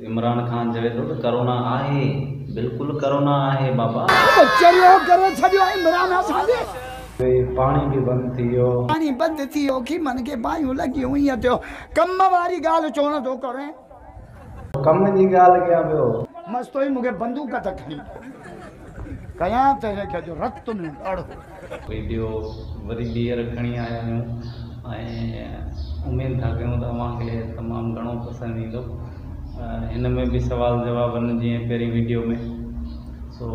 عمران خان چوي ٿو ته ڪرونا آهي بلڪل ڪرونا آهي بابا. ڪچهريو ڪري ڇڏيو عمران اسان جي. پاڻي به بند ٿي ويو. پاڻي بند ٿي ويو کيمن کي باهيون لڳيون ايئن ٿيو ڪم واري ڳالهه ڇو نه ٿو ڪرين. ڪم جي ڳالهه ڪيان پيو. مستوئي مون کي بندوق ته کڻي ڏي. ڪيان تنهن کي جو رت ۾ ڳڙ هو. ويڊيو وري ٻيهر کڻي آيا آهيون ۽ اميد ٿا ڪيون ته اوهان کي تمام گهڻو پسند ايندو هن ۾ به سوال جواب آهن جيئن پهرين ويڊيو ۾ سو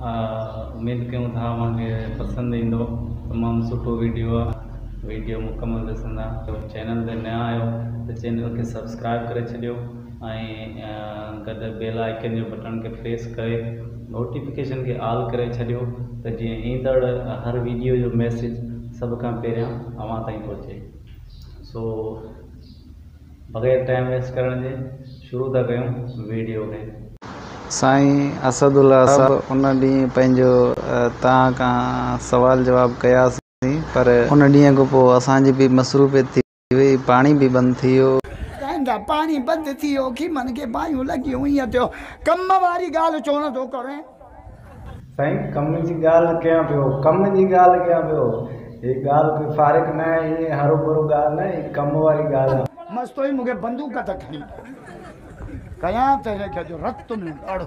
اميد ڪيون ٿا اوهان کي پسند ايندو تمام سٺو ويڊيو آهي ويڊيو مڪمل ڏسندا چينل تي نيا آهيو ته چينل کي سبسڪرائب ڪري ڇڏيو ۽ گڏ بيل آئيڪن جي بٽڻ کي پريس ڪري نوٽيفڪيشن کي آل ڪري ڇڏيو ته جيئن ايندڙ هر ويڊيو جو ميسيج سڀ کان پهريان اوهان تائين پهچي سو بغير ٽائيم ويسٽ ڪرڻ جي شروع ٿا ڪيون ويڊيو کي. سائين اسد الله صاحب ان ڏينهن پنهنجو توهان کان سوال جواب ڪياسين پر ان ڏينهن کان پوء اسان جي به مصروفيت ٿي ٿي وئي، پاڻي به بند ٿي ويو. ڳائيندا، پاڻي بند ٿي ويو، خيمن کي باهيون لڳيون، ائين ٿيو. ڪم واري ڳالهه ڇو نه ٿو ڪرين؟ سائين ڪم جي ڳالهه ڪيان پيو. ڪم جي ڳالهه ڪيان پيو. هي ڳالهه ڪوئي فارغ نه آهي، ائين هروڀرو ڳالهه نه، هي ڪم واري ڳالهه آهي. مستوئي مون کي بندوق ته کڻي ڏي. ڪيان ته هن کي اڄ رت ۾ ڳڙ هو.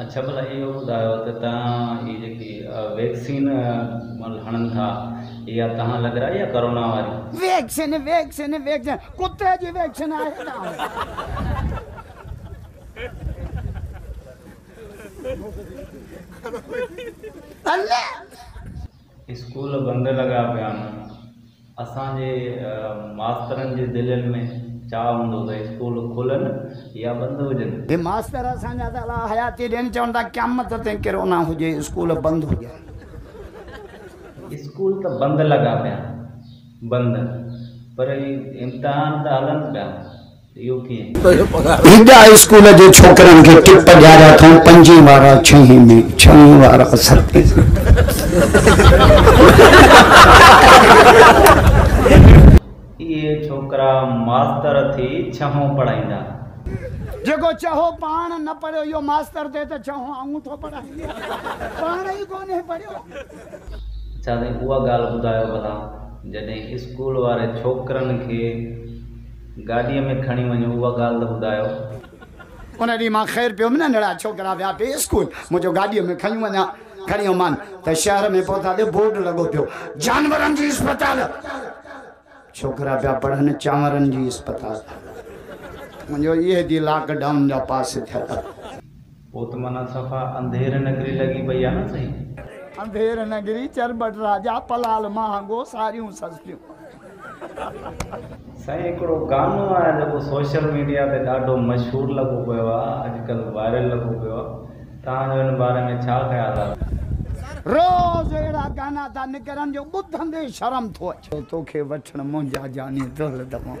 اڇا ڀلا اهو ٻڌايو ته توهان هي جيڪي ويڪسين هڻن ٿا اها توهان لڳرائي يا ڪورونا واري؟ ويڪسين ويڪسين ويڪسين ڪتي جي ويڪسين آهي توهان جي. اسڪول بند لڳا پيا هئا. اسان جي ماسترن جي دلين ۾ چاهه هوندو ته اسڪول کلن يا بند هجن. هي ماستر اسان جا ته الاء حياتي ڏين چون ٿا قيامت تائين ڪرونا هجي اسڪول بند هجن. اسڪول ته بند لڳا پيا بند پر امتحان ته هلن پيا هڪ هاء اسڪول جي ڇوڪرن کي ٽپ ڏياريا اٿئون پنجين وارا ڇهين ۾ ڇهين وارا ستين ۾. اهي ڇوڪرا ماستر ٿي ڇهون پڙهائيندا. جيڪو چهو پاڻ نه پڙهيو اهو ماستر ٿئي ته ڇهون آئون ٿو پڙهائين پاڻ ئي ڪونهي پڙهيو. اڇا سائين اها ڳالهه ٻڌايو ڀلا جڏهن اسڪول واري ڇوڪرن کي. گاڏيء ۾ کڻي وڃو، اها ڳالهه ته ٻڌايو. ان ڏينهن مان خير پيو ننڍڙا ڇوڪرا ويا پي اسڪول، مون جو گاڏيء ۾ کنيون وڃان. کڻي ويومان ته شهر ۾ پهتا ته بورڊ لڳو پيو، جانورن جي اسپتال. ڇوڪرا پيا پڙهن چانورن جي اسپتال. مون جو اهي دي لاڪ ڊائون جا پاس ٿيل. پوء ته معنيٰ صفا انڌير نگري لڳي پئي آ نه سهي. انڌير نگري چرٻٽ راجا پلال مهانگو ساريون سستيون. سائين هڪڙو گانو آهي جيڪو سوشل ميڊيا تي ڏاڍو مشهور لڳو پيو آ اڄ ڪلهه وائرل لڳو پيو آ توهان جو ان باري ۾ ڇا خيال آ. روز اهڙا گانا ٿا نڪرن جو ٻڌندي شرم ٿو اچي. توکي وٺڻ منهنجا جاني دل دماغ.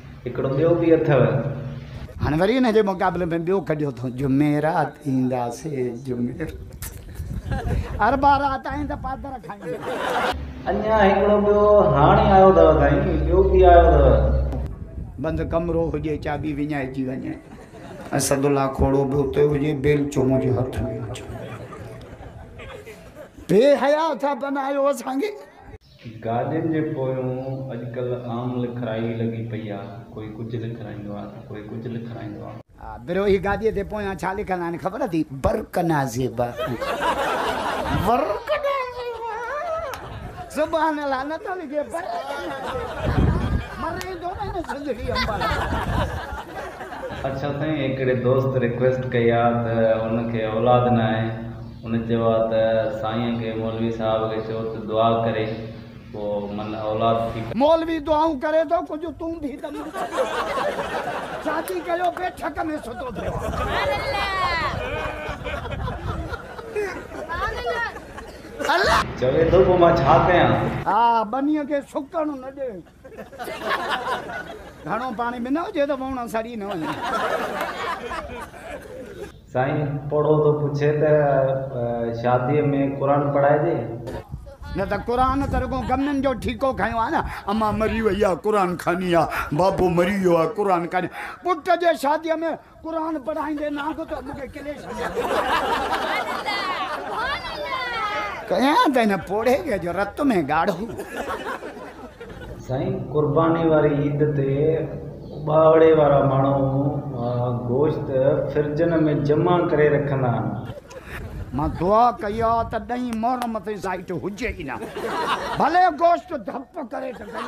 هڪڙو ٻيو به اٿو. هاڻي وري ان جي مقابلي ۾ ٻيو ڪڍيو اٿو جمعرات اينداسي جمعرات اربع رات ائين ته پادر کائينداسي. اڃا هڪڙو ٻيو هاڻي آيو اٿو سائين ٻيو به آيو اٿو. بند ڪمرو هجي چاٻي وڃائجي وڃي اسد الله کوڙو به اتي هجي بيلچو منهنجي هٿ ۾ هجي. بي حيا اٿا بنايو اسان کي. گاڏين جي پويون اڄڪلهه عام لکرائي لڳي پئي آ، ڪوئي ڪجهه لکرائيندو آ ته ڪوئي ڪجهه لکرائيندو آ. آ بروهي گاڏيء تي پويان ڇا لکندا آهن خبر اٿئي؟ برڪنا زيبا برڪنا زيبا سبحان الله نه ٿو لکي برڪنا زيبا مري ٿو وڃي سنڌڙي امبالا. اڇا سائين هڪڙي دوست ريڪويسٽ ڪئي آ ته ان کي اولاد ناهي هن چيو آهي ته سائين کي مولوي صاحب کي چئو ته دعا ڪري پوء من اولاد ٿي ڪڍي. مولوي دعائون ڪري ٿو ڪجهه تون به ته منهن تي ڪر. شادي ڪيو پئي ٺڪ ۾ ستو پيو آهي. چوي ٿو پوء مان ڇا ڪيان. ها ٻنيء کي سڪڻ نه ڏي. گهڻو پاڻي به نه هجي ته وهڻ سڙي نه وڃي. سائين پوڙهو ٿو پڇي ته شاديء ۾ قرآن پڙهائجي؟ نه ته قرآن ته رڳو گمنن جو ٺيڪو کنيو آهي نه. امان مري وئي آهي قرآن کاني آهي، بابو مري ويو آهي قرآن کاني آهي. پٽ جي شاديء ۾ قرآن پڙهائيندي نه آندو ته مون کي ڪلي ڇڏيو. ڪيان ته هن پوڙهي کي جو رت ۾ ڳاڙهو. سائين قرباني واري عيد تي اٻاوڙي وارا ماڻهو گوشت فرجن ۾ جمع ڪري رکندا آهن. مان دعا ڪئي آ ته ڏهين محرم تائين سائيٽ هجي ئي نه ڀلي گوشت ڌپ ڪري ته ڪري.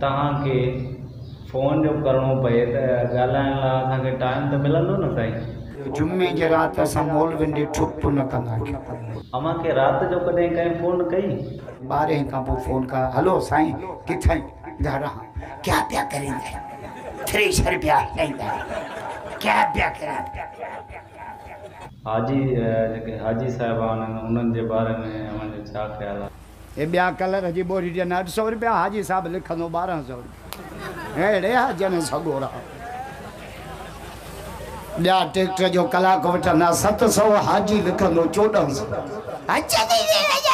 توهان کي فون جو ڪرڻو پئي ته ڳالهائڻ لا اسان کي ٽائيم ته ملندو نه سائين. جمعي جي رات اسان مولوين ڏي ٺپ به نه ڪندا آهيون. اوهان کي رات جو ڪڏهن ڪنهن فون ڪئي؟ ٻارهين کان پوء فون ڪيو هلو سائين ڪٿئين گهر آهان ڪيا پيا ڪريندا آهيون ٿريشر پيا هلائيندا آهيون ڪيا پيا ڪريندا. حاجي جيڪي حاجي صاحب آهن انهن جي باري ۾ اوهان جو ڇا خيال آهي؟ هي ٻيا ڪلر جي ٻوري ڏين اڍ سئو رپيا حاجي صاحب لکندو ٻارهن سئو رپيا اهڙي حاجين سڳورا ٻيا ٽيڪٽر جو ڪلاڪ وٺندا ست سئو حاجي لکندو چوڏهن سئو حج تي ويئي حج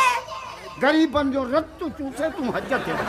غريبن جو رت چوسي تون حج تي وڃ.